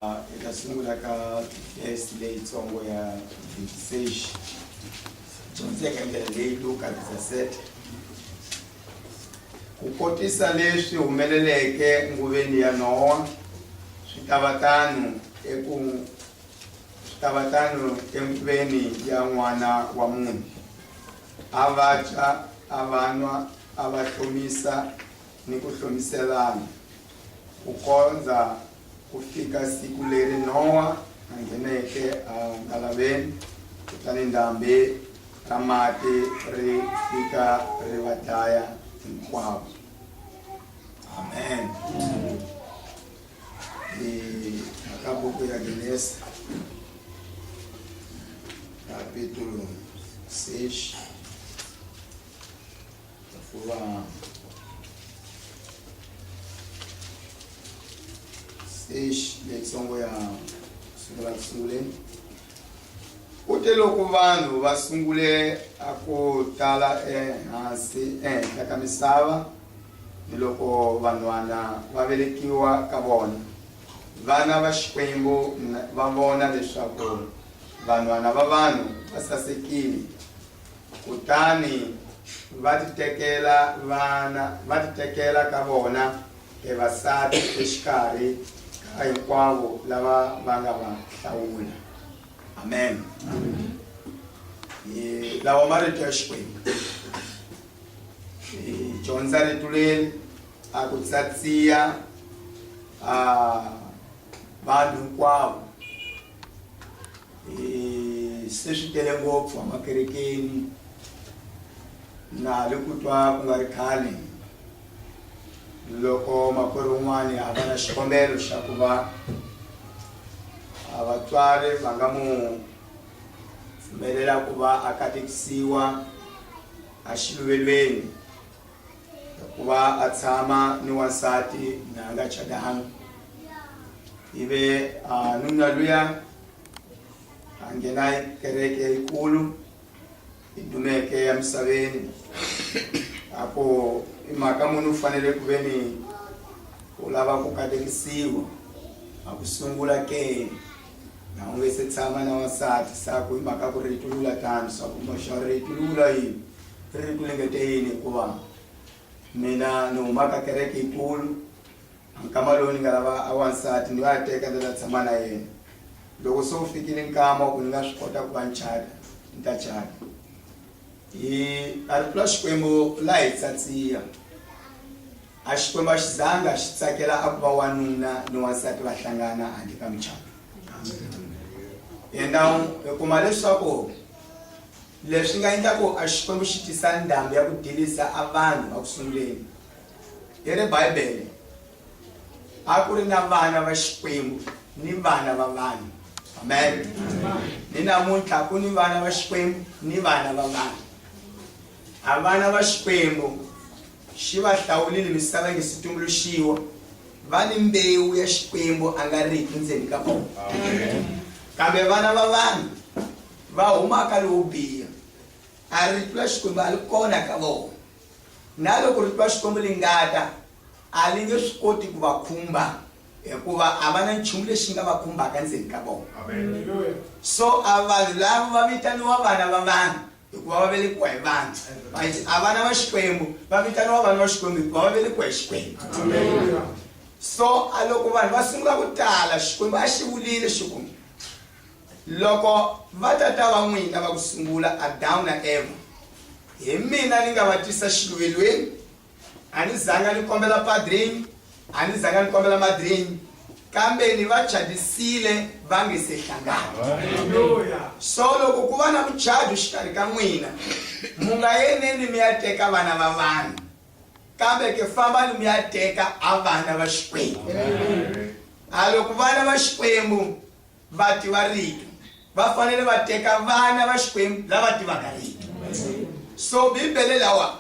Hi ta sungula ka test leyitsongo ya Vintage. Dyondzeka ndlela leyi Luka Dzasete ku kotisa leswi humeleleke nguveni ya Nowa swi ta va tano eku swi ta va tano enguveni ya n'wana wa munhu. A va dya, a va nwa, a va hlomisa ni ku hlomiselana ku kondza Ku fika siku leri Nowa a ngheneke eNkalaveni, kutani ndhambhi ra mati ri fika ri va dlaya hinkwavo. Amen. Hi aka buku ya Genesi kapitulo 6. stage leyitsongo ya sungula ku sunguleni u te loko vanhu va sungule a ku tala ehansi ehenhla ka misava ni loko vanhwana va velekiwa ka vona vana va xikwembu va vona leswaku vanhwana va vanhu va sasekile kutani va titekela vana va titekela ka vona evasati exikarhi ka hinkwavo lava va nga va hlawula amen lawa marito ya xikwembu dyondza rito leri a ku tsatsiya vanhu hinkwavo Eh, se swi tele ngopfu amakerekeni na le ku twa ku nga ri khale loko makwerhu un'wana a va na xikombelo xa ku va vatswari va nga mu pfumelela ku va a katekisiwa axiluvelweni hikuva a tshama ni wansati na nga cadanga ivi nuna luya a nghena kereke yikulu yi dumeke ya misaveni a ku i mhaka munhu u fanele ku ve ni u lava ku katekisiwa a ku sungula ke na u nge se tshama na wansati sa ku hi mhaka ku ri yi tulula tano swa ku moxa ri yi tulula yini ri ri ku engeteleni hikuva mina ni huma ka kereke yikulu nkama lowu ni nga lava a wansati ni nga ya teka ni ta tshama na yena loko se wu fikile nkama wa ku ni nga swi kota ku va ni chata ni ta chata hi a ri pfula xikwembu la hi tsatsiya a xikwembu a xi zanga xi tsakela a ku va wanuna ni wansati va hlangana handle ka muchato and now hi kuma leswaku Leswi nga endla ku a Xikwembu xi tisa ndhambi ya ku delisa a vanhu eku sunguleni. Hi ri Bibele, a ku ri na vana va Xikwembu ni vana va vanhu. Amen. Ni namuntlha ku ni vana va Xikwembu ni vana va vanhu. A vana va Xikwembu xi va hlawulile misava yi nga si tumbuluxiwa, va ni mbewu ya Xikwembu a nga riki ndzeni ka vona. Kambe vana va vanhu va huma ka lowo biha, a ri tlula Xikwembu a li kona ka vona. Na loko ri tlula Xikwembu li ngata, a li nge swi koti ku va khumba, hikuva a va na nchumu lexi nga va khumbaka ndzeni ka vona. So a vanhu lava va vitaniwa vana va vanhu, hikuva va velekiwa hi vanhu, but a vana va Xikwembu va vitaniwa vana va Xikwembu, hikuva va velekiwa hi Xikwembu. So a loko vanhu va sungula ku tala, Xikwembu a xi vulile xi ku. Loko vatata va n'wina va ku sungula, Adamu na Evha, hi mina ni nga va tisa xiluvelweni. A ni zanga ni kombela padrini, a ni zanga ni kombela madrini, kambe ni va cadisile va nge se hlangana. So loko ku va na mucado exikarhi ka n'wina, mu nga yeneni mi ya teka vana va vanhu, kambe ke fambani mi ya teka a vana va Xikwembu. A loko vana va Xikwembu Vativa Rito va fanele va teka vana va Xikwembu lava tivaka Rito. So Bibele lawa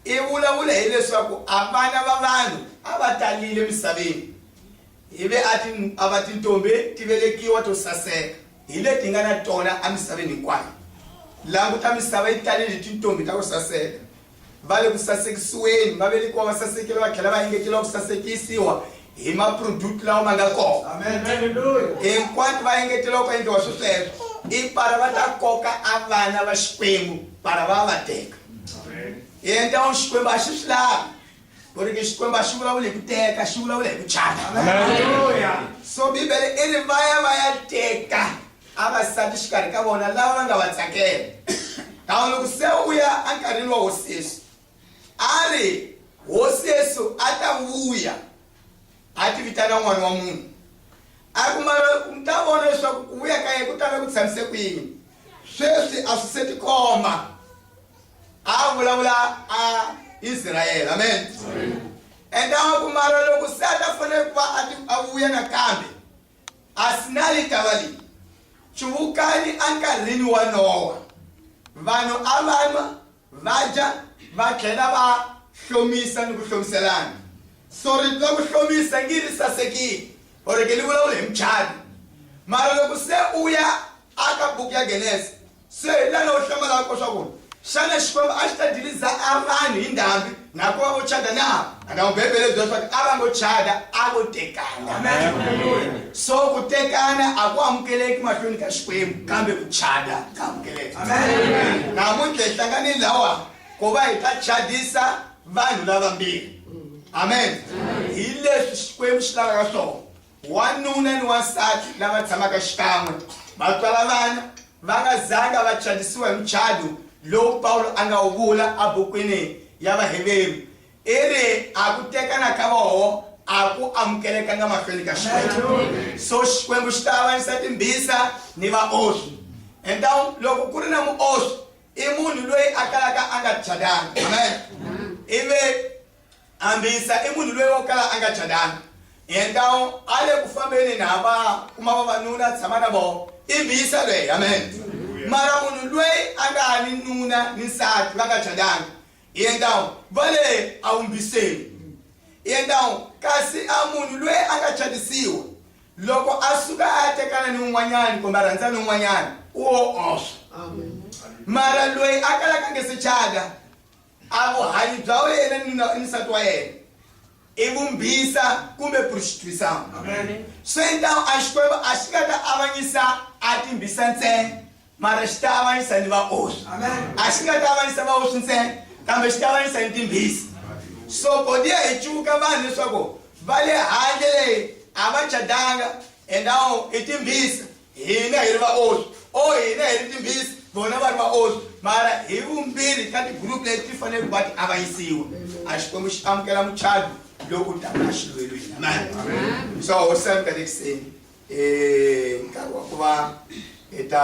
i vulavula hileswaku a vana va vanhu a va talile emisaveni ivi a ti a va tintombi ti velekiwa to saseka hi leti nga na tona emisaveni hinkwayo. Languta misava yi talile hi tintombi ta ku saseka. va le ku sasekisiweni, va velekiwa va sasekile va tlhela va engetela ku sasekisiwa hi maproduti lawa ma nga kona. Hinkwatu va engetela ku endliwa swesweswo i para va ta koka a vana va Xikwembu para va va teka. Yenta u Xikwembu a xi swi lavi ku ri Xikwembu a xi vulavula hi ku teka xi vulavula hi ku chata. So Bibele i ri va ya va ya teka a va sati xikarhi ka vona lava va nga va tsakela kan'we loko se u ya enkarhini wa hosi yesu a ri hosi yesu a ta vuya a ti vitana n'wana wa munhu a ri kuma mi ta vona leswaku ku vuya ka ye ku tala ku tshamise kwini sweswi a swi se tikomba a vulavula a israyele amen and a kumala loko se a ta fanele ku va a vuya nakambe Asinali tava leyi, Cuvukani enkarhini wa Nowa, vanhu a va nwa, va dya, va tlhela va hlomisa ni ku hlomiselana. So rito ra ku hlomisa ngi ri sasekile or-ke li vulavula hi mucato. Mara loko se u ya aka buku ya Genese, Se hi la lowu hlamalaka ko swa ku xana Xikwembu a xi ta diliza a vanhu hi ndhambi na ku va vo chada na? Anda ku Bibele bya swa ku a va ngo chada, a vo tekana. So ku tekana a ku amukeleki mahlweni ka Xikwembu kambe ku chada ka amukeleka. Namuntlha hi hlangane lawa ku va hi ta chadisa vanhu lavambirhi. Amen. Hi leswi Xikwembu xi lavaka swona. Wanuna ni wansati lava tshamaka xikan'we va tswala vana va nga zanga va chavisiwa hi muchado lowu Pawulo a nga wu vula ebukwini ya Vaheveru, i ri, A ku tekana ka voho a ku amukelekanga mahlweni ka Xikwembu, so Xikwembu xi ta avanyisa timbhisa ni vaoswi. Então, loko ku ri na muoswi, i munhu loyi a kalaka a nga chadanga. Amen. Ivi Ambisa i munhu loyi o kala a nga calanga. Endao a le ku fambeni na va kuma vavanuna a tshama na vona. I mbisa loyi. Amen. Mara munhu loyi a nga ni nuna ni nsati va nga calanga, endao va le a wu mbiseni. Endao kasi a munhu loyi a nga calisiwa, loko a suka a ya tekana ni un'wanyani kumbe a rhandza ni un'wanyani, u o oswa. Mara loyi a kalaka a nge se cala, A Vuhanyi bya wena ni nuna ni nsati wa yena i vumbhisa kumbe prostituição. Swi então a Xikwembu a xi nga ta avanyisa a timbhisa ntsena, mara xi ta avanyisa ni vaoswi. A xi nga ta avanyisa vaoswi ntsena, kambe xi ta avanyisa ni timbhisa. So bodiya hi cuvuka vanhu leswaku va le handle leyi a va cadanga endawu i timbhisa, Hina hi ri vaonhi, or hina hi ri timbhisi, vona va ri vaonhi, mara hi vumbirhi ka tigroup leti ti fanele ku va ti avanyisiwa. A Xikwembu xi amukela muchado loko u damu na xilo elweni. Amen. So hosi ya mi ka le kuseni, eh, nkarhi wa ku va hi ta